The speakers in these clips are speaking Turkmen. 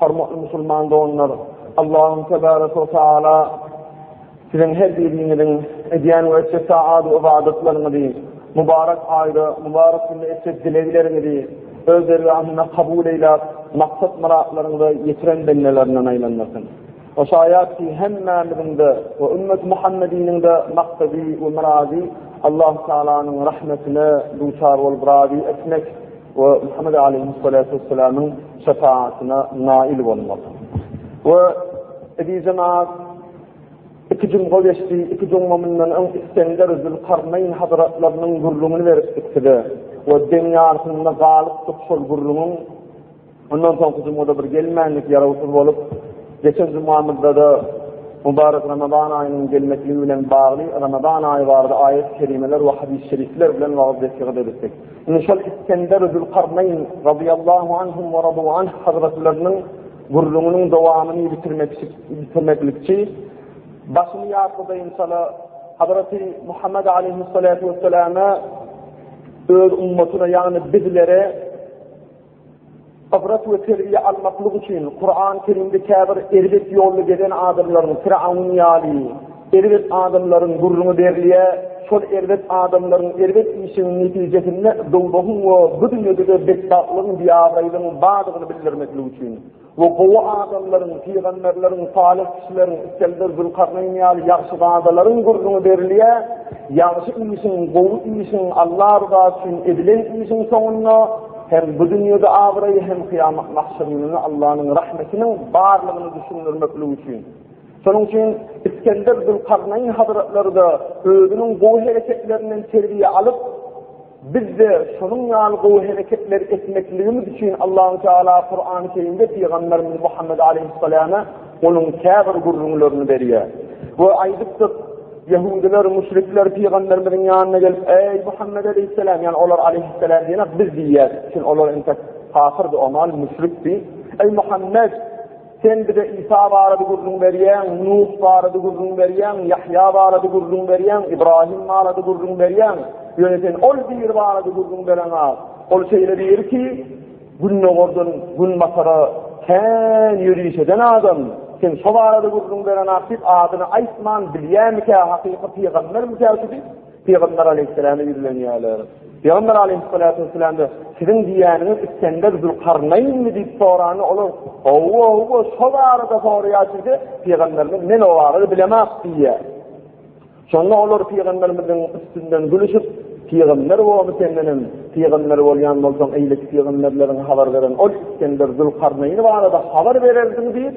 Hormatly musulman doganlar! Allahym Tebarek we Taala siziň her biriňiziň edýän we etjek taat we ybadatlaryňyzy, mubarek aýda, mubarek günde etjek dilegleriňizi Öz dergahynda kabul eýläp, maksat-myratlaryňyza ýetiren bendelerinden aýlandyrsyn. O şaýat ki, hemmämiziň-de we ümmeti Muhammediniň-de maksady we myrady Allahü Taalanyň rahmetine duçar bolup razy etmek, we Muhammed aleýhimsalatu wessalamyň şepaýatyna naýyl bolmak. We Ebi Jemaat iki jumga geçdi, iki jumga mundan öň Isgender Zülkarneýn hazratlarynyň gürrüňini beripdik size. We deň ýarsynda galypdyk şol gürrüňiň Ondan soňky jumada bir gelmänlik ýarawsyz bolup, geçen jumamyzda-da Mubarek Ramazan aýynyň gelmekligi bilen bagly Ramazan aýy barada aýat-kerimeler we hadys-şerifler bilen wagyz-nesihat edipdik. Indi şol Isgender Zülkarnaýn radyýallahu anhum we radu anh hazratlarynyň gürrüňiniň dowamyny bitirmeklikçi başyny ýatladaýynçala Hazreti Muhammed aleyhissalatu vesselama öz ummatyna ýagny bizlere Ybrat we terbiýe almaklyk üçin Kuran Kerimde käbir erbet ýolda gezen adamlaryň Firawun ýaly erbet adamlaryň gürrüňi berilýär, şol erbet adamlaryň erbet işiniň netijesinde dowzahyň we bu dünýäde-de betbagtlygyň, biabraýlygyň bardygyny bildirmeklik üçin. Bu gowy adamlaryň, pygamberleriň, salyh kişileriň, Iskelder, Zülkarneýn ýaly ýagşyzadalaryň gürrüňi berilýär. Ýagşy işiň, gowy işiň, Alla rydasy üçin edilen işiň soňunda hem bu dünýede abraý, hem kyýamat mahşer gününde Allanyň rahmetiniň barlygyny düşündirmeklik üçin. Şonuň üçin Iskelder, Zülkarneýn hazratlary-da özüniň gowy hereketlerinden terbiýe alyp, Biz-de şonuň ýaly gowy hereketleri etmekligimiz üçin Allahu Teala Kurany Kerimde Pygamberimiz Muhammed Aleýhissalama onuň käbir gürrüňlerini berýär. We aýdypdyk, Ýehudylar, müşrikler Pygamberimiziň ýanyna gelip, Eý, Muhammed Aleýhissalam, ýagny olar Aleýhissalam diýenak biz diýýär, çünki olar entek kafyrdy, omal müşrikdi. Eý, Muhammed! Sen bize Isa barada gürrüň berýäň, Nuh barada gürrüň berýäň, Ýahýa barada gürrüň berýäň, Ibrahim barada gürrüň berýäň. Ýöne sen ol biri barada gürrüň bereňa. Ol şeýle biri ki, gündogardan günbatara kän ýöriş eden adam. Sen şo barada gürrüň bereňak diýip, adyny aýtman, bilýämikä, hakyky pygambermikä şu diýip, Pygamber aleýhissalama ýüzlenýärler. Pygamber aleýhissalatu wessalamda siziň diýýäniňiz Isgender Zülkarnaýnmy diýip soranda olar howwa howwa şo barada soraýar diýdi. Pygamberimiz men o barada bilemok diýýär. Şonda olar pygamberimiziň üstünden gülüşip Pygamber boldy senden hem pygamber bolýan bolsaň eýle pygamberleriň habar beren ol Isgender Zülkarnaýny barada habar bererdiň diýip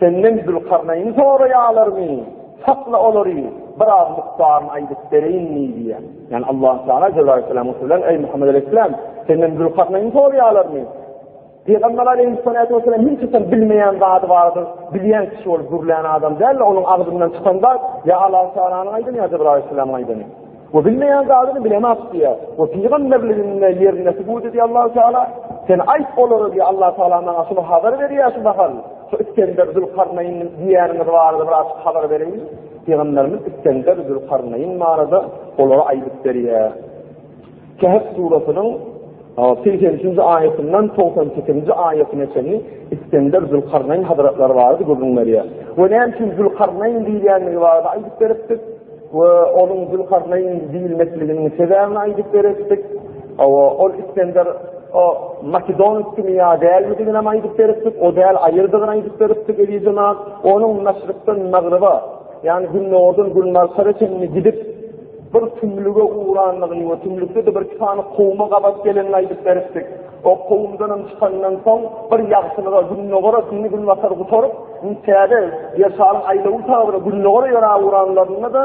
Senden Zülkarnaýny soraýalarmy? Sakla olary, biraz mukdaryny aýdyp bereýinmi? diýýär. Ýani Allahu Teala Jebraýyl aleyhissalama gürlän, Eý Muhammed aleyhissalam, senden Zülkarnaýny soraýalarmy? Pygamber aleyhissalatu wesselam hiç kim bilmeýän zady bardy, bilýän kişi bolup gürlän adam däl, onuň agzyndan çykan zat, ýa Allahu Tealanyň aýdany, ýa Jebraýyl aleyhissalamyň aýdany. We bilmeýän zadyny bilemok diýýär. We pygamberliginde ýerinde subut edýär Allahu Teala. Sen aýt olara diýýär Allahu Teala maňa şuny habar berýär şu mahal. Şu Iskender Zülkarnaýyn diýýäniňiz barada bir açyk habar beriň. Pygamberimiz Iskender Zülkarnaýyn barada olara aýdyp berýär. Kehf surasynyň Segsen üçünji aýatyndan togsan sekizinji aýatyna çenli Isgender Zülkarnaýn hazratlary barada gürrüň berýär. We näme üçin Zülkarnaýn diýilýändigi barada aýdyp beripdik. We onuň Zülkarnaýn diýilmekliginiň sebäbini aýdyp beripdik. Hawa, ol Isgender o makedonskimi ýa dälmidigini hem aýdyp beripdik. O däl aýyrdygyny aýdyp beripdik eziz jemagat. Onuň maşrykdan magryba, ýagny gündogardan günbartara çenli gidip, Bir tümlüge ugrandygyny we tümlükde-de bir iki sany kowuma gabat gelenini aýdyp beripdik. O kowumdanam çykanyndan soň bir ýagtylyga Gündogar atynny Günbatar gutaryp, indi täze Ýerşaryň aýlawy tabara Gündogara ýöräp ugranlarynda-da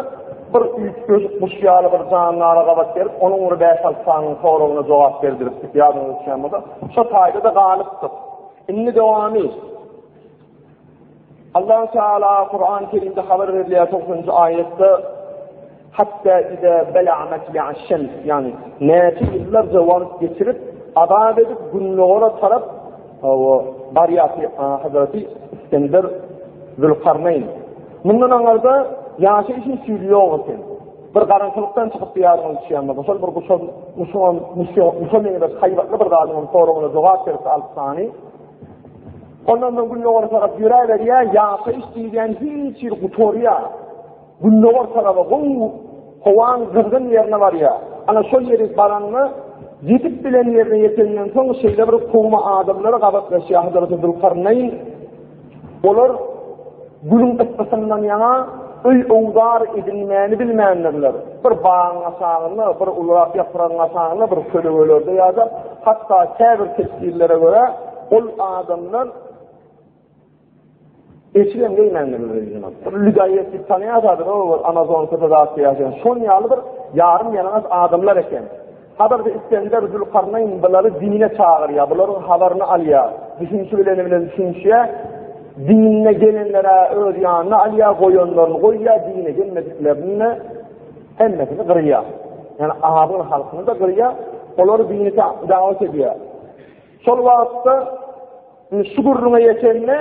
bir üýtgeşik guş ýaly bir jandara gabat gelip, onuň bir bäş-alty sanynyň soragyna jogap berdiripdik, ýadyňyza düşýän bolsa. Şo taýda-da galypdyk. Indi dowamy. Allahu Teala Kur'an-ı Kerimde haber berilýär 90-njy aýatda hatta ida bala'at ya'şan yani näçe ýyllar jawab geçirip azap edip günlere tarap o barýaty Hazreti İskender Zülkarneyn Mundan aňarda ýaşy üçin süýli ýok eken. Bir garankylykdan çykyp ýaryň üçýänme. Başal bir guşan, guşan, guşan, guşan meňzek haýbatly bir zadyň soraguna jogap berip alyp sany. Ondan soň gündogar tarap ýöräberýär, ýaşaýyş diýilýän hiç ýer gutarýar. Gündogar tarapa gowy howaň gyzgyn ýerine barýar. Ana şol ýeri baranda ýetip bilen ýerine ýetenden soň şeýle bir kowma adamlara gabatlaşýar Hazreti Zülkarneýn. Olar Günüň yssysyndan ýaňa öý owzar edilmäni bilmändirler. Bir bagyň aşagynda, bir ulurak ýapragyň aşagynda, bir kölegelerde ýa-da hatda käbir tefsirlere görä, ol adamlar eşigem geýmändirler öýüne. Bir lüdaýýet diýip tanýarsadyr, o bir Amazon köpedagda ýaşaýan. Şonuň ýaly bir ýarym ýalaňaç adamlar eken. Hazreti Isgender Zülkarneýn bulary dine çagyrýar, bularyň habaryny alýar, düşünişi bileni bilen düşünişýär, dinine gelenler-ä öz ýanyna alýar, goýanlaryny goýýar, dine gelmediklerini-de hemmesini gyrýar. Ýani azyl halkyny-da gyrýar, olary dine dawet edýär. Şol wagtda indi şu gürrüňe ýetende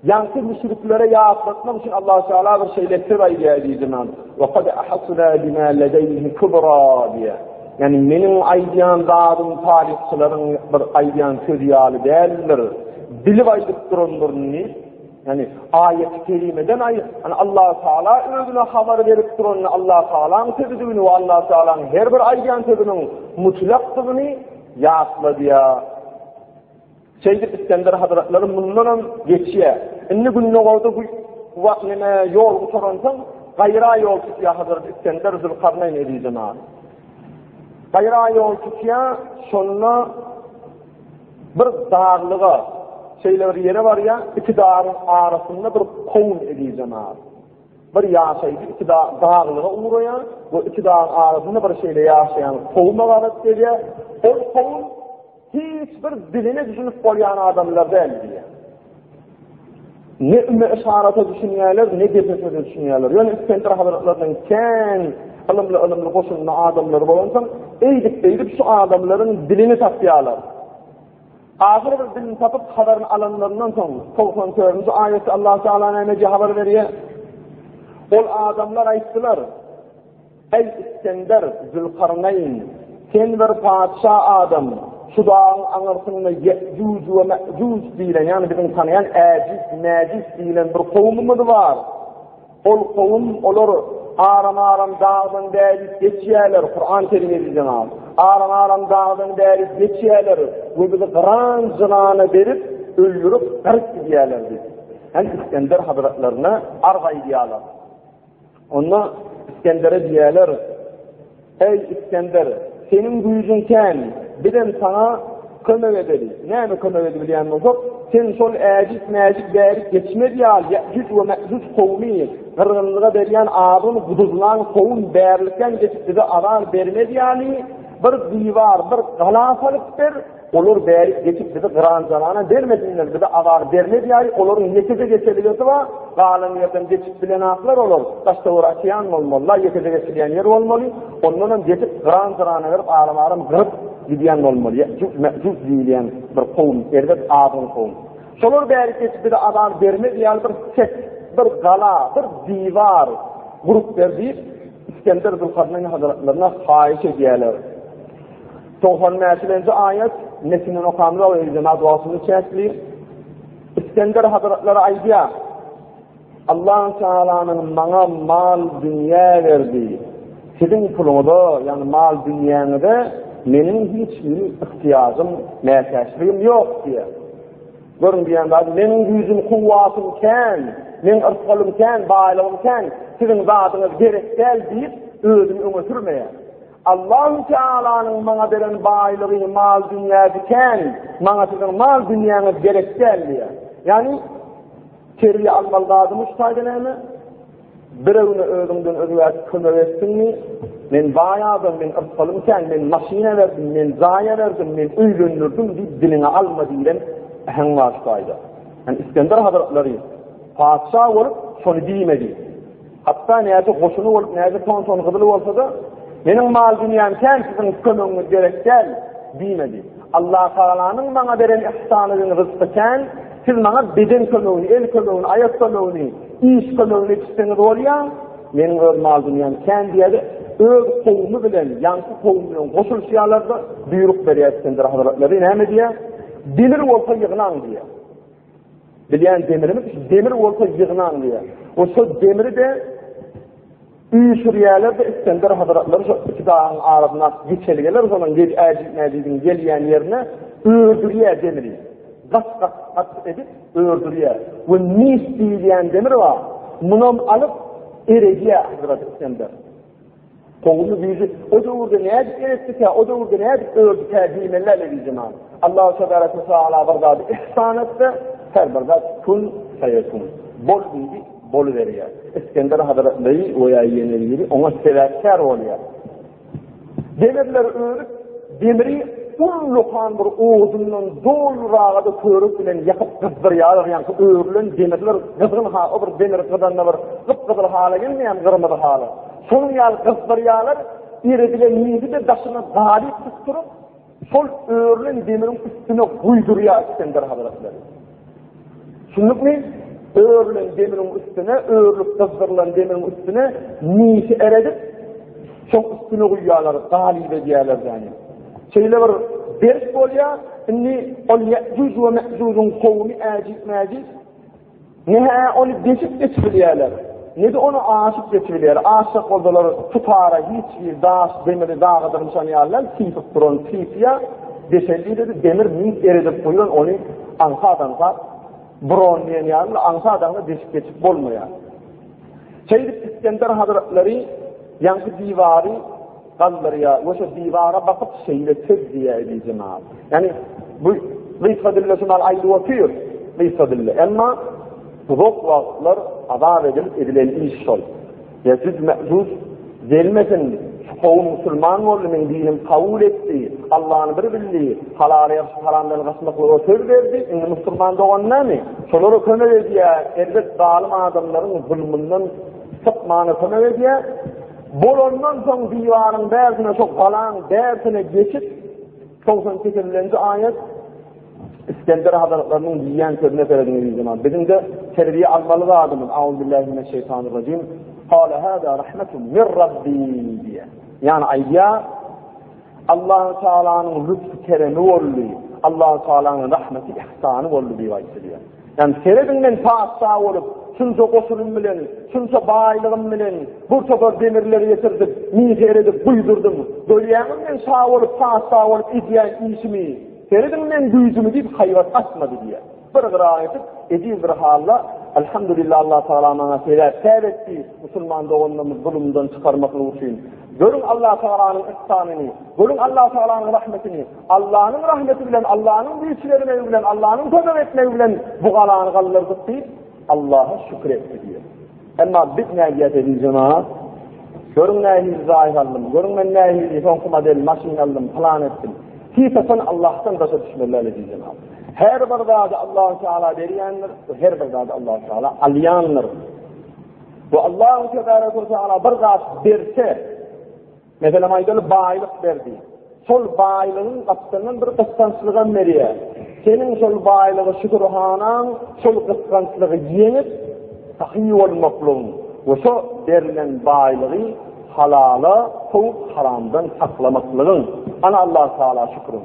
ýaňky müşriklere ýatlatmak üçin Allah Taala bir şey lepir aýdýar diýdi men. Wa qad ahasna bima ladayhi kubra diýär. Yani meniň aýdýan zadym taryhçylaryň bir aýdýan sözi ýaly däldir. Bilip aýdyp durandyryny, yani aýat kelimeden aý, yani Allah Taala özüne habar berip duranyny Allah Taalanyň sözüdigini we Allah Taalanyň her bir aýdýan sözüniň mutlakdygyny Ýatla diýýär. Şeýdip Isgender hazratlary mundanam geçýär. Indi gündogarda bu wagt ýene ýol gutaransoň, gaýra ýol tutýar Hazreti Isgender Zülkarneýn eliýdina. Gaýra ýol tutýar, şonda bir daglyga, şeýle bir ýere barýar, iki dagyň arasynda bir kowun eliýdina. Bir ýaşaýjy iki dag, daglyga ugraýar we iki dagyň arasynda bir şeýle ýaşaýan kowuma gabat gelýär. Ol kowum hiç bir diline düşünip bolýan adamlar däl diýýär. Ne üme yşarata düşünýärler, ne gepä söze düşünýärler. Ýöne Iskender hazretleriniň kän ylymly ylymly goşunly adamlary bolansoň, eýdip-beýdip şu adamlaryň dilini tapýarlar. Ahyr bir dilini tapyp habaryny alanlaryndan soň, togsan törünji aýatda Allahu Teala nämeje habar berýär? Ol adamlar aýtdylar, Eý, Isgender, Zülkarneýn, sen bir patyşa adam, şu dagyň aňyrsynda Ýe'juj we Me'juj diýlen, ýagny biziň tanaýan Äjiz, Mäjiz diýlen bir kowumymyz bar. Ol kowum, olar, Aram-Aram dagdan bäri geçýärler, Kuran kelimesi jenap, Aram-Aram dagdan bäri geçýärler we bizi gyran jynana berip, öldürip, garyp gidýärler diýip, hem Isgender hazretlerine arz aýdýarlar. Onda Isgendere diýýärler, Eý, Isgender, seniň güýjüň kän, bizem saňa kömek edeli. Näme kömek edibilýän bolsak, sen şol äjit-mäjit bärik geçmez ýaly Ýäjuj we Mäjuj kowumy gyrgynlyga berýän azgyn guduzlaň sowun bärlikden geçip bize azar bermez ýaly bir diwar, bir gala salyp ber, Olar bärik geçip bizi gyranjalana bermesinler, bize azar bermedýäý, olaryň ýekeje geçeligesi bar, galan ýerden geçip bilenaklar olar, daş-töwer açýan bolmalylar, ýekeje geçilýän ýer bolmaly, ondanam geçip gyran-jyrana berip aram-aram gyryp gidýän bolmaly, ýe'jüj me'jüj diýilýän bir kowum, erbet azgyn kowum. Şolar bärik geçip bize azar bermez ýaly bir çet, bir gala, bir diwar gurup ber diýip, Isgender Zülkarneýn hazretlerine haýyş edýärler. Togsan näçilenji aýat? Metinden okamyza we jemaat wagtyny çäkleýin. Iskender hazratlary aýdýar. Allah Taalanyň maňa mal dünýä berdi. Siziň puluňyza, ýagny mal dünýäňize meniň hiç bir ihtiýajym, mätäçligim ýok diýýär. Görüň diýen zat, meniň güýjüm, kuwwatym kän, meniň yrsalym kän, baýlygym kän, siziň zadyňyz gerek däl diýip, özüni öňe sürmeýär. Allahu Tealanyň maňa beren baýlygy mal-dünýä diken, maňa siziň mal-dünýäňiz gerek däl diýýär. Ýagny terbiýe almaly zadymy şu taýda näme? Birewine özüňden özgäsi kömek etdiňmi? Men baý adam, men yrsalym kän, men maşyna berdim, men zaýa berdim, men öýlendirdim diýip diliňe alma diýen äheň bar şu taýda. Yani İskender Hazretleri patyşa bolup şony diýmedi. Hatda nädip goşuny bolup, nädip tonton gyzyly bolsa-da, meniň mal-dünýäm kän, siziň kömegiňiz gerek däl, diýmedi. Allah Tagalanyň maňa beren yhsany we ryzky kän, siz maňa beden kömegini, el kömegini, aýak kömegini, iş kömegini etişseňiz bolýa, meniň öz mal-dünýäm kän diýerdi, öz kowumy bilen, ýaňky kowum bilen goşulyşýarlar-da, buýruk berýär Isgender hazretleri, näme diýýär? Demir bolsa ýygnaň diýýär. Bilýän demirimiz demir bolsa ýygnan diýýär. O şol demiri de üýşürýärler de Isgender hazratlary şu iki dagyň arasynda geçelgeler şonuň gel äjit mäjitiň gelýän ýerine ördürýär demiri. Gat gat gat edip ördürýär. Bu mis diýilýän demir bar. Munam alyp eredýär Hazrat Isgender. Gowumy güýji? O döwürde nädip ýeretdikä, o döwürde nädip ördükä diýmeli-ä lezizjemal. Allahu tebarek we taala bir zady ihsan etse, her bir zat kun feýekun. Bol diýdi, boluberýär. Isgender hazretleri we ýa ýene biri oňa sebäpkär bolýar. Demirler örüp, Demiri ullakan bir odundan doluraga-da körük bilen ýakyp gyzdyrýarlar, ýaňky örülen demirler gyzgyn ha, o bir demir gyzanda bir gyp-gyzyl hala gelmeýärmi, gyrmyzy hala. Şonuň ýaly gyzdyrýarlar, eredilen ýigidi-de daşyna dalyp tutduryp, şol örülen demiriň üstüne guýdurýar Isgender hazretleri. Şunlukmi? Örülen demiriň üstüne, örülip gyzdyrylan demiriň üstüne nişi eredip, şoň üstüne guýýarlar, galyp edýärler däni. Şeýle bir berk bolýar, indi ol Ýejuj we Mejujuň kowumy äjit-mäjit, ne-hä ony deşip geçirýärler. Nede ony aşyp geçibilýär? Aşjak bolsalar, tutara hiç bir daş, demiri dagydyr nişan ýalydan sypyp duran Trifiýa deşeldi-de, demir mink eredip guýan ony aňsat-aňsat buron diýen ýaly aňsat-aňsat deşip geçip bolmaýar. Şeýdip Isgender hazratlary ýaňky diwary galdyrýa we şu diwara bakyp şeýle söz diýýä ediji mal. Ýani bu gysga dilde şu mal aýdyp otyr, gysga dilde. Emma uzak wagtlar azap edil edilen iş şol. Ýa jüz mäjuz gelmesin, şu kowum musulman boldy, men dinim kabul etdi, Allahny bir bildi, halal ýa haramdan gaçmaklyga söz berdi, indi musulman dogan näme? Şolara kömek edýä, erbet zalim adamlaryň zulmundan sypmana kömek edýä. Bolandan soň diwaryň bärsine şo galaň bärsine geçip 98-nji aýat İskender hazretleriniň diýýän sözüne serediň zaman. Biziň de terbiýe almaly zadymyz. Auzubillahi mineşşeýtanirrejim. Qala hada rahmetun min rabbi diýýär. Ýani aýdýar, Allahu Tealanyň lütfü-keremi boldy, Allahu Tealanyň rahmeti-ihsany boldy diýip aýdylýar. Ýani serediň men patyşa bolup, şunça goşunym bilen, şunça baýlygym bilen bir topar demirleri getirdim, miher edip guýdurdym. Görýäňmi men şa bolup, patyşa bolup edýän işimi? Serediň men güýjümi diýip haýbat atmady diýýär. Bir gyraat edip, ejiz bir halla, Alhamdulillah, Allah Tagala maňa sebäpkär etdi, musulman doganlarymyzy zulumdan çykarmaklyk üçin. Görüň Allah Tagalanyň yhsanyny, görüň Allah Tagalanyň rahmetini. Allanyň rahmeti bilen, Allanyň güýç bermegi bilen, Allanyň kömek etmegi bilen bu galany galdyrdyk diýip, Allaha şükür etdi diýýär. Emma biz nädýäs eziz jemaat? Görüň nähili zaýy aldym, görüň men nähili soňky model maşyn aldym, plan etdim. Hiç-haçan Allahdan daşa düşmeliler eziz jemaat. Her bir zady Allah Teala berýändir, her bir zady Allah Teala alýandyr. Bu Allah Teala bir zat berse, Meselem aýdaly baýlyk berdi. Şol baýlygyň gapdalyndan bir gysgançlygam berýär. Seniň şol baýlygy şükürhanaň şol gysgançlygy ýeňip sahy bolmaklygyň we şo berlen baýlygy halala sowup haramdan saklamaklygyň. Ana Allah Taala şüküriň.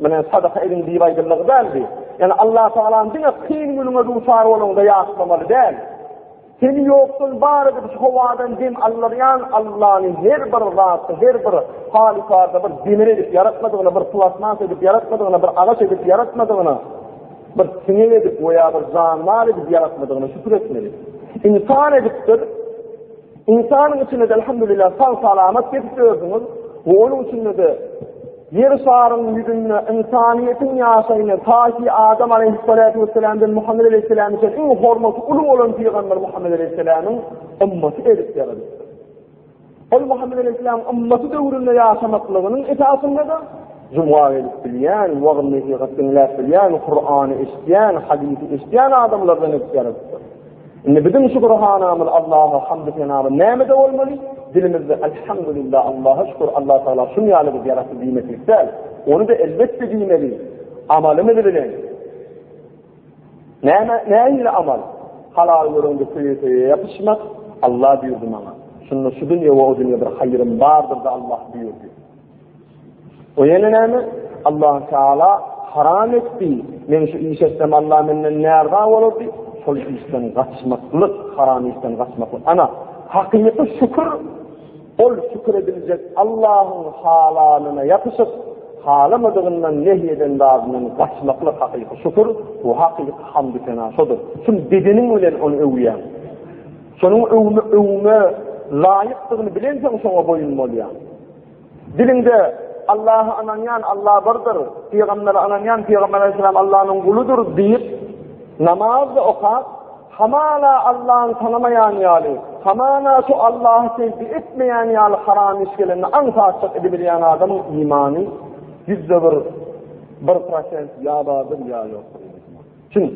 Menen sadaka ediň diýip aýdyldy däldi. Ýani Allah Taalany diňe kyn günüňe duçar bolanda ýatlamaly däl. Seni ýokdan bar edip şu howadan dem aldyrýan Allahny her bir zatda, her bir halykarda bir demir edip ýaratmadygyny, bir plasmas edip ýaratmadygyny, bir agaç edip ýaratmadygyny, bir siňek edip we ýa bir janwar edip ýaratmadygyny şükür etmeli. Insan edipdir, Ynsanyň içinde-de elhamdülillah sag-salamat gezip ýörsüňiz we onuň içinde-de Ýer şarynyň ýüzünde ynsanyýetiň ýaşaýyny taýy Adam aleýhissalatu wessalamdan Muhammed aleýhissalama çenli iň hormaty uly bolan pygamber Muhammed aleýhissalamyň ymmaty edip ýaradypdyr. Ol Muhammed Aleyhisselam ymmaty döwründe ýaşamaklygynyň esasynda-da juma gelip bilýän, wagyz-nesihat diňläp bilýän, Kur'any eşidýän, hadysy eşidýän adamlardan edip ýaradypdyr. Indi biziň şükürhanamyz Allaha hamdy senalar nämede bolmaly? Dilimizde elhamdülillah Allaha şükür Allah Taala şun ýaly biz ýaratdy diýmeklik däl. Ony da elbetde diýmeli. Amalymyz bilen. Näme näme amal? Halal görende söýe ýapyşmak Allah buyurdy maňa. Şunda şu dünýä we o dünýä bir haýrym bardyr da Allah buyurdy. O ýene näme? Allah Taala haram etdi. Men şu iş etsem Allah menden näraza bolardy. Şol işden gaçmaklyk, haram işden gaçmaklyk. Ana, hakyky şükür ol şükür ediljek Allahyň halalyna ýapyşyp, halamadygyndan nehy eden zadyndan gaçmaklyk hakyky şükür, bu hakyky hamd sena şodur. Kim bedeniň bilen ony öwýär. Şonuň öwme, öwme laýykdygyny bilensoň şoňa boýun bolýar. Diliňde Allaha ynanýan, Alla birdir, pygambere ynanýan, pygamber aleyhisselam Allanyň guludyr diýip, namaz da okap, hamala Allany tanamaýan ýaly, hamana şu Allahy tezbi etmeýän ýaly haram iş gelende aňsatçyk edibilýän adamyň imany ýüzde bir, bir prosent ýa bardyr ýa ýokdur. Çün,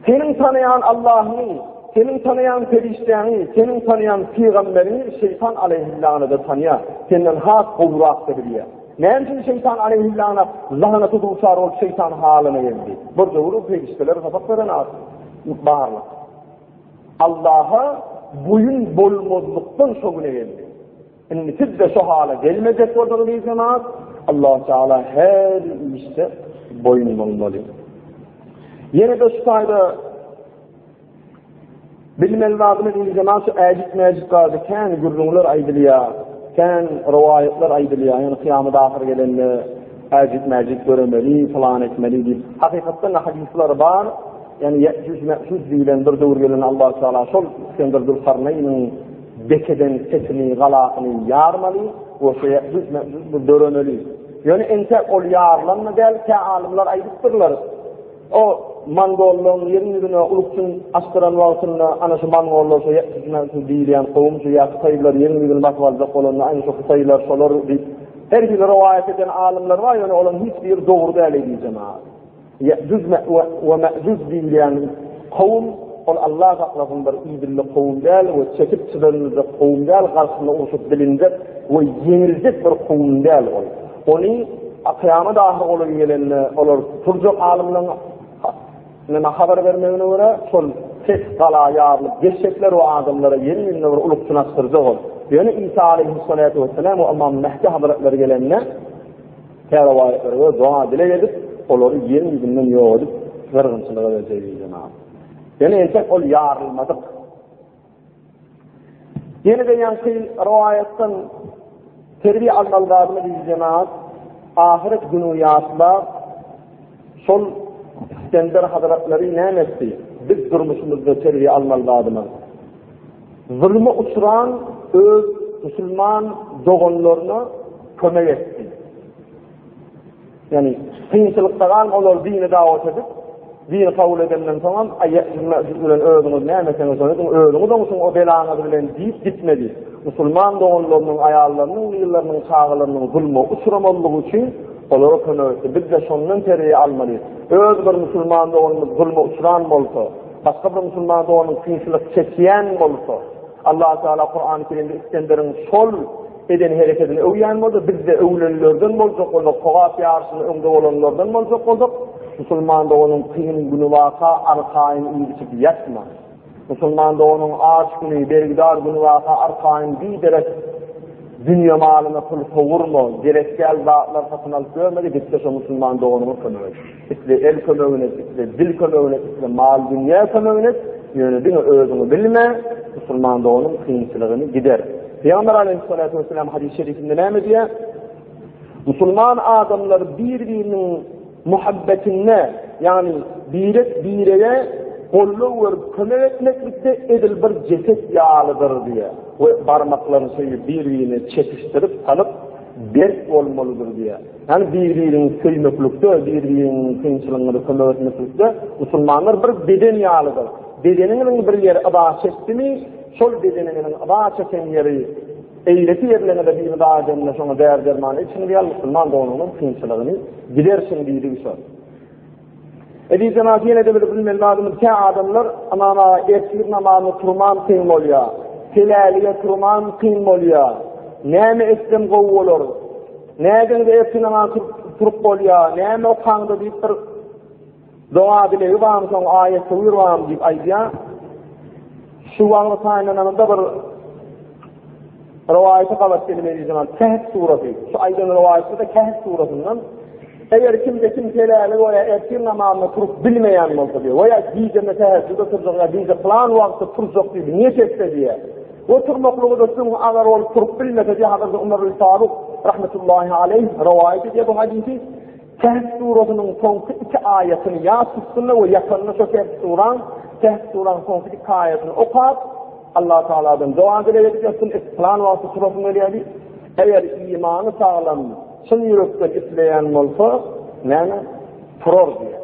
seniň tanaýan Allahyňy, seniň tanaýan perişdäňi, seniň tanaýan pygamberiňi şeýtan aleýhil-lagnada tanýar, senden has gowurakda bilýär. Näme üçin şeýtan aleýhil-lagna lagnata duçar bolup şeýtan halyna geldi? Bir döwür perişdeler sapak beren at, barlyk. Allaha boýun bolmazlykdan şo güne geldi. Indi siz-de şo hala gelmejek bolsaňyz diýseňiz, Allahu Teala her işde boýun bolmaly. Ýene de şu taýda bilmeli zadyny diýseňiz, şu äjit-mäjit barada kän gürrüňler aýdylýar, kän rowaýatlar aýdylýar. Ýöne kyýamat ahyr gelende äjit-mäjit göremeli, plan etmeli diýip. Hakykatda ne hadisler bar, ýöne ýetjüz-mäjüz diýilen bir döwür gelen Allahu Teala şol Isgender Dulkarnaýynyň Bekeden sesini, galasyny ýarmaly, goşa döremeli. Ýöne entä ol ýarylan-da däl, kä alymlar aýdypdyrlar, o mongollaryň ýeriň ýüzüne ulukjyn asdyran wagtynda, ana şu mongollar, şu ýetmişmän şu diýilýän kowum, şu ýa hytaýlylar ýeriň ýüzüni basyp aljak bolanda, aýna şu hytaýlar şolar diýip, her hili rowaýat eden alymlar bar, ýöne olaryň hiç biri dogry däl eýdýän jemagat. Ýe'jüj we Me'jüj diýilýän kowum, ol Alla saklasyndyr, idilli kowum däl we çekip çydanyljak kowum däl, garşyna urşup bilinjek we ýeňiljek bir kowum däl ol. Ony kyýamat ahyr bolan gelende olar tuturjak alymlaryň neme habar bermegine görä, şol pes gala ýarylyp geçjekler we adamlara ýene-ýene bir ulyk çynaşdyrjak ol. Ýöne Isa aleýhissalaty wessalam we Ymam Mehdi hazratlary gelende, Tä rowaýatlary we doga-dileg edip, olary ýeriň ýüzünden ýok edip, gyrgynçylyga berjek eý jenap. Ýöne entek ol ýarylmadyk. Ýene-de ýaňky rowaýatdan terbiýe almaly zadymy eý jenap, ahyret gününi ýatlap, şol Iskender hazratlary näme etdi? Biz durmuşymyzda terbiýe almaly zadymyz. Zuluma uçran öz musulman doganlaryna kömek etdi. Yani kynçylykda galan olar dini dawat edip, dini kabul edenden soň hem aýýasyz mäjid bilen özüňiz näme etseňiz şony ediň, özüňiz oňşuň o belaňyz bilen diýip gitmedi. Musulman doganlarynyň aýallarynyň, gyzlarynyň, çagalarynyň zulma uçramazlygy üçin olara kömek etdi. Biz-de şondan terbiýe almaly. Öz bir musulman doganymyz zulma uçran bolsa, Başga bir musulman doganym kynçylyk çekýän bolsa, Allah Taala Kurany Kerimde Isgenderiň şol eden hereketini öwýän bolsa, bizde öwlenlerden boljak bolsak, sogap ýaryşynda öňde bolanlardan boljak bolsak, musulman doganym kyn güni waka arkaýyn iýip içip ýatma. Musulman doganym aç güni, bergidar güni waka arkaýyn biderek dünýe malyna pul sowurma, gerek däl zatlar satyn alyp ýörme-de, git-de şo musulman doganyňa kömek et. Isle el kömegini et, isle dil kömegini et, isle mal-dünýä kömegini et, ýöne diňe özüňi bilme, musulman doganyň kynçylygyny gider. Pygamber aleyhissalatu vesselam hadis-i şerifinde näme diýýär? Musulman adamlar bir-biriniň muhabbetinde, ýagny birek-birege golluk we kömek etmeklikde edil bir jeset ýalydyr diýýär. We barmaklaryny söýüp bir-birine çekişdirip salyp berk bolmalydyr diýýär. Ýagny bir-biriňi söýmeklikde, bir-biriňiň kynçylygyňyza kömek etmeklikde musulmanlar bir beden ýalydyr. Bedeniňiziň bir ýeri yza çekdimi, şol bedeniňiziň yza çeken ýeri eýleki ýerleriňize bir yza edende şoňa däri-derman içiňiz ýaly musulman doganyňyzyň kynçylygyny gidersiň diýdigi şol. Eziz jemaat ýene-de bir bilmeli zadymyz kä adamlar aman ertir namazyna turman kyn bolýar. Helälige turman kyn bolýar. Näme etsem gowy bolar? Nädeňde ertir namaz turup bolýar? Näme okaňda diýip bir doga dilegi bar, soň aýat tewir bar diýip aýdýar. Şu wagty taýynlananda bir Rowaýaty gabat gelmeli zaman Kehf suresi. Şu aýdan rowaýatda da Kehf suresinde eger kim de kim selali we ya ertir namazına turup bilmeýän bolsa diýe we ya gije me tehejjüde turjak ya gije plan wagtda turjak diýip niýet etse diýe. Ve turmaklygy da şuň agar ol turup bilmese diýe hazırda Umar bin Faruk rahmetullahi aleyh rowaýat edýär bu hadisi. Kehf surasynyň soňky iki aýatyny ýa tutdunda we ýatanda şo Kehf suraň, Kehf suraň soňky iki aýatyny okap, Allah Tagaladan doga dileg edip ýatdym, et pylan wagty turasym gelýär diýip. Eger imany saglam, çyn ýürekden isleýän bolsa, näme, turar diýýär.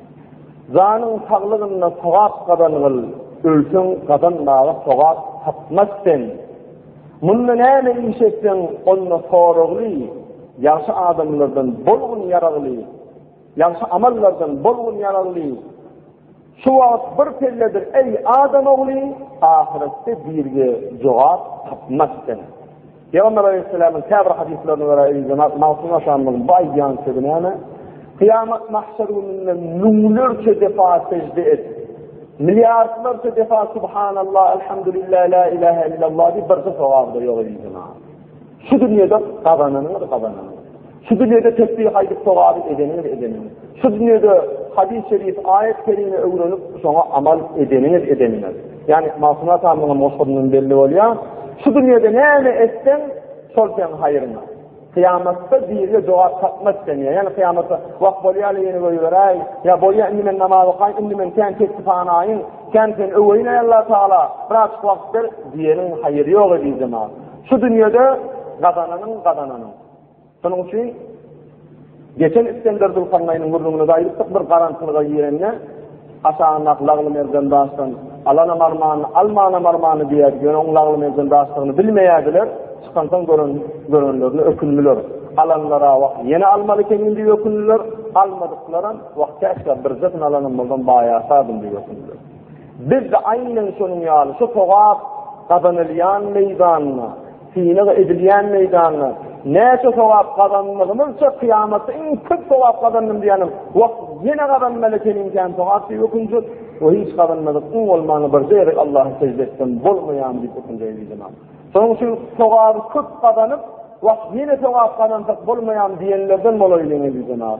Janyň saglygynda sogap gazangyl, ölseň gazanmaga sogap tapmaz sen. Munda näme iş etseň, onda soragly, ýagşy adamlardan bolgun ýaragly, ýagşy amallardan bolgun ýaragly. Şu wagt bir pelledir, eý, adam ogly, ahyretde birge jogap tapmaz sen. Pygamber aleýhissalamyň käbir hadyslaryna görä, eý jenap Magtym Aşamyň bu aýdýan sözi näme? Kyýamat mahşer gününde müňlerçe depa sejde et. Milliardlarça depa subhanallah, elhamdülillah, la ilahe illallah diýip birki sogap-da ýok eý jenap. Şu dünýede gazananyňyz gazananyňyz. Şu dünýede tesbih aýdyp sogaby edeniňiz edeniňiz. Şu dünýede hadys şerif, aýat kerime öwrenip şoňa amal edeniňiz edeniňiz. Ýani Magtym atamyň goşgynyndan belli bolýar. Şu dünýede näme etseň, şol seň haýryňa. Kyýamatda birine jogap tapmaz sen ya. Yani kyýamatda wah bolýar ýene goýberäý. Ya bolýar indi men namaz okaýyn, indi men sen tesbihany aýyn, sen sen öweýin Allah taala. Biraz wagt ber diýeniň haýyry ýok edýjema. Şu dünýede gazananyň gazananyň. Şonuň üçin geçen Isgender Zülkarnaýnyň gürrüňine-de aýdypdyk, bir garançylyga girende, aşagyndaky lagly merjen daşdan Alanam armany, almanam armany diýerdi, ýöne oň lagly merjen daşdygyny bilmeýärdiler, çykansoň gören, görenlerine ökündiler. Alanlar-a wah, ýene almaly ekeniň diýip ökündiler, almadyklaram, wah, käşgä birje syn alanym bolsam baýarsardym diýip ökündiler. Biz-de aýnen şonuň ýaly, şu sogap gazanylýan meýdanda, Synag edilýän meýdanda näçe sogap gazanmazymyzça kyýamatda iň köp sogap gazandym diýýänem wah ýene gazanmaly ekenim kän sogap diýip ökünjek we hiç gazanmadyk iň bolmany bir ýerik Allaha sežde etsem bolmaýamy diýip ökünjek eý zenan. Şonuň üçin sogaby köp gazanyp wah ýene sogap gazansak bolmaýamy diýenlerden bolaýlyň eý zenan.